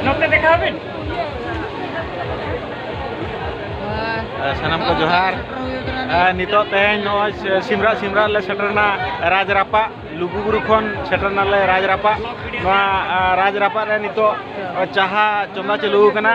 ᱱᱚᱛᱮ ᱫᱮᱠᱷᱟᱣ ᱵᱤᱱ ᱥᱟᱱᱟᱢ ᱠᱚ ᱡᱚᱦᱟᱨ ᱱᱤᱛᱚᱜ ᱛᱮᱦᱮᱧ ᱱᱚᱜᱼᱚᱭ ᱥᱤᱢᱨᱟ ᱥᱤᱢᱨᱟ ᱞᱮ ᱥᱮᱴᱮᱨᱱᱟ ᱨᱟᱡᱽ ᱨᱟᱯᱟᱜ ᱞᱩᱜᱩᱵᱩᱨᱩ ᱠᱷᱚᱱ ᱥᱮᱴᱮᱨᱱᱟᱞᱮ ᱨᱟᱡᱽ ᱨᱟᱯᱟᱜ ᱱᱚᱣᱟ ᱨᱟᱡᱽ ᱨᱟᱯᱟᱜ ᱨᱮ ᱱᱤᱛᱚᱜ ᱪᱟᱦᱟ ᱪᱚᱸᱫᱟ ᱪᱟᱹᱞᱩ ᱟᱠᱟᱱᱟ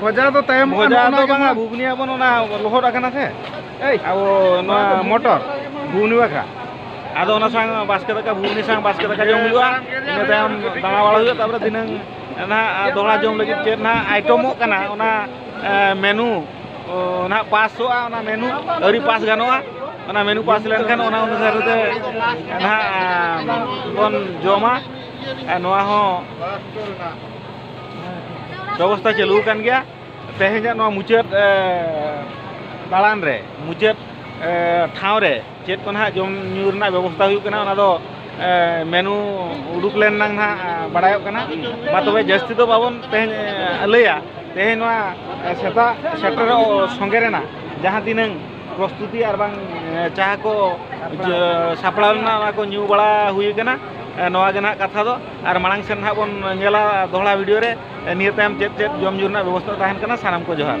ᱵᱚᱡᱟ ᱫᱚ ᱛᱟᱭᱚᱢ ᱵᱚᱡᱟ ᱫᱚ ᱵᱟᱝᱟ ᱵᱷᱩᱵᱽᱱᱤ ᱟᱵᱚᱱ ᱚᱱᱟ ᱞᱚᱦᱚᱫ ᱟᱠᱟᱱᱟ ᱥᱮ ᱟᱵᱚ ᱱᱚᱣᱟ ᱢᱚᱴᱚᱨ ᱵᱷᱩᱵᱽᱱᱤ ᱵᱟᱠᱷᱨᱟ ᱟᱫᱚ ᱚᱱᱟ ᱥᱟᱝ ᱵᱟᱥᱠᱮ ᱫᱟᱠᱟ ᱵᱷᱩᱵᱽᱱᱤ ᱥᱟᱝ ᱵᱟᱥᱠᱮ ᱫᱟᱠᱟ ᱡᱚᱢ ᱦᱩᱭᱩᱜᱼᱟ ᱤᱱᱟᱹ ᱛᱟᱭᱚᱢ ᱫᱟᱬᱟ ᱵᱟᱲᱟ ᱦᱩᱭᱩᱜᱼᱟ ᱛᱟᱯᱚᱨᱮ ᱫᱷᱤᱱᱟᱹᱝ ᱱᱟᱦᱟᱜ ᱫᱚᱦᱲᱟ ᱡᱚᱢ ᱞᱟᱹᱜᱤᱫ ᱪᱮᱫ ᱱᱟᱦᱟᱜ ᱟᱭᱴᱚᱢᱚᱜ ᱠᱟᱱᱟ ᱚᱱᱟ ᱢᱮᱱᱩ ᱱᱟᱦᱟᱜ ᱯᱟᱥᱚᱜᱼᱟ ᱚᱱᱟ ᱢᱮᱱᱩ ᱟᱹᱣᱨᱤ ᱯᱟᱥ ᱜᱟᱱᱚᱜᱼᱟ ᱚᱱᱟ ᱢᱮᱱᱩ ᱯᱟᱥ ᱞᱮᱱᱠᱷᱟᱱ ᱚᱱᱟ ᱚᱱᱩᱥᱟᱨ ᱛᱮ ᱱᱟᱦᱟᱜ ᱵᱚᱱ ᱡᱚᱢᱟ ᱟᱨ ᱱᱚᱣᱟ ᱦᱚᱸ ᱵᱮᱵᱚᱥᱛᱷᱟ ᱪᱟᱹᱞᱩ ᱟᱠᱟᱱ ᱜᱮᱭᱟ ᱛᱮᱦᱮᱧᱟᱜ ᱱᱚᱣᱟ ᱢᱩᱪᱟᱹᱫ ᱫᱟᱬᱟᱱ ᱨᱮ ᱢᱩᱪᱟᱹᱫ ᱴᱷᱟᱶ ᱨᱮ ᱪᱮᱫ ᱠᱚ ᱱᱟᱦᱟᱜ ᱡᱚᱢ ᱧᱩ ᱨᱮᱱᱟᱜ ᱵᱮᱵᱚᱥᱛᱷᱟ ᱦᱩᱭᱩᱜ ᱠᱟᱱᱟ ᱚᱱᱟ ᱫᱚ ᱢᱮᱱᱩ ᱩᱰᱩᱠ ᱞᱮᱱ ᱱᱟᱝ ᱱᱟᱦᱟᱜ ᱵᱟᱲᱟᱭᱚᱜ ᱠᱟᱱᱟ ᱢᱟ ᱛᱚᱵᱮ ᱡᱟᱹᱥᱛᱤ ᱫᱚ ᱵᱟᱵᱚᱱ ᱛᱮᱦᱮᱧ ᱞᱟᱹᱭᱟ ᱛᱮᱦᱮᱧ ᱱᱚᱣᱟ ᱥᱮᱛᱟᱜ ᱥᱮᱴᱮᱨᱚᱜ ᱥᱚᱸᱜᱮ ᱨᱮᱱᱟᱜ ᱡᱟᱦᱟᱸ ᱛᱤᱱᱟᱹᱝ ᱯᱨᱚᱥᱛᱩᱛᱤ ᱟᱨ ᱵᱟᱝ ᱡᱟᱦᱟᱸ ᱠᱚ ᱥᱟᱯᱲᱟᱣ ᱞᱮᱱᱟ ᱚᱱᱟ ᱠᱚ ᱧᱩ ᱵᱟᱲᱟ ᱦᱩᱭ ᱠᱟᱱᱟ ᱱᱚᱣᱟ ᱜᱮ ᱱᱟᱦᱟᱜ ᱠᱟᱛᱷᱟ ᱫᱚ ᱟᱨ ᱢᱟᱲᱟᱝ ᱥᱮᱱ ᱱᱟᱦᱟᱜ ᱵᱚᱱ ᱧᱮᱞᱟ ᱫᱚᱦᱲᱟ ᱵᱷᱤᱰᱤᱭᱳ ᱨᱮ ᱱᱤᱭᱟᱹ ᱛᱟᱭᱚᱢ ᱪᱮᱫ ᱪᱮᱫ ᱡᱚᱢ ᱧᱩ ᱨᱮᱱᱟᱜ ᱵᱮᱵᱚᱥᱛᱟ ᱛᱟᱦᱮᱱ ᱠᱟᱱᱟ ᱥᱟᱱᱟᱢ ᱠᱚ ᱡᱚᱦᱟᱨ